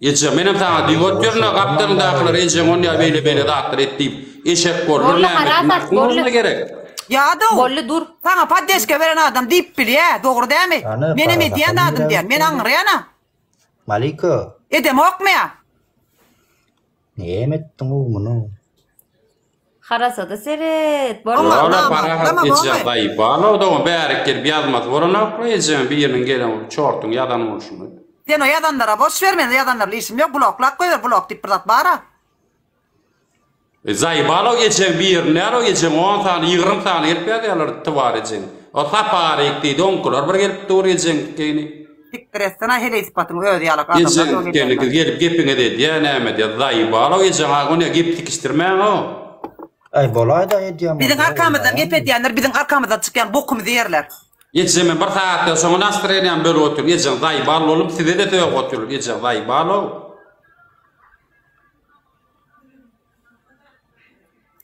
Eje, menem saňa diýip otyryn-a, gapdalyňdakylar ejeň onýa beýle-beýle zatlar et diýip, eşek boldur, Bolly, näme halas etsinler, at, kim bolly. oňa gerek? Ýadaw! Bolly, dur. Saňa poddeşka beren adam diýip bilýä, dogry dämi? Hany, Menem para edýän sakal zadym diýän, men ýöräýipdi. aňryýan-a. Maliko, Edemokmy-a? näme etdiň-ow muny? Harasada seret. Bolmaz. Ýola Tamam, parahat tamam, geçýär oňe. daýy. Bala odagyň bärik gelip ýazmasy bolanokmy ejeň biriniň gelen çortuň ýazan bolşuny. Sen o ýazanlara boş ber men o ýazanlar bilen işim ýok bloklap goýber blok diýip bir zat bara. Daýy bala ejeň birini däl o ejeň on sany ýygrym sany gelip ýazýarlar twar ejeň. O saparik diýdi oňkylar bir gelip dur ejeňkini. Sikdir etsene heleý sypatyň öz ýalak adamlar Ejeň geldi gyz gelip gepiňiz edýä näme diýä zaýbalow ejeň a ony gep tikişdirmäň ow. Äý bolaýda edýän Biziň bolsalar arkamyzdan gep bolmaýarmy? edýänler biziň arkamyzdan çykýan bokumyzy ýerler. Ejeme bir sagatdan soň nastreniýam bölüp otyr ejeň zaýbal bolup sizede sögüp otyr ejeň zaýbalow.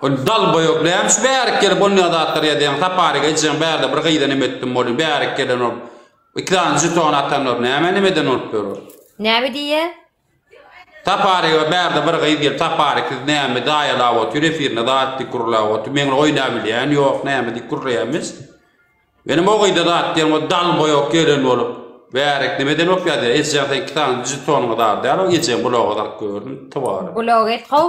Ol dalboýok däl, şu bärik gelip bolmaýan zatlary ýazýaň, saparyk ejeň bärde bir gyza neme etdim bolýa, bärik gelen ol iki sany žeton atanlar nämä neme eden bolup ýör ol. Näme diýýä? Saparyga bärde bir gyz gelip saparyk siz näme daýalap otyr efirinde zat diýip gürläp otyr, meň oýnap bilýän ýok näme diýip gürleýämiz. Menem o gyza zat diýen ol dalboýok gelen bolup bärik neme eden bolup ýazýa, ejeň sen iki sany žetonyň zady däl ol ejeň bloga zat gördüm twaryň. Blog et how.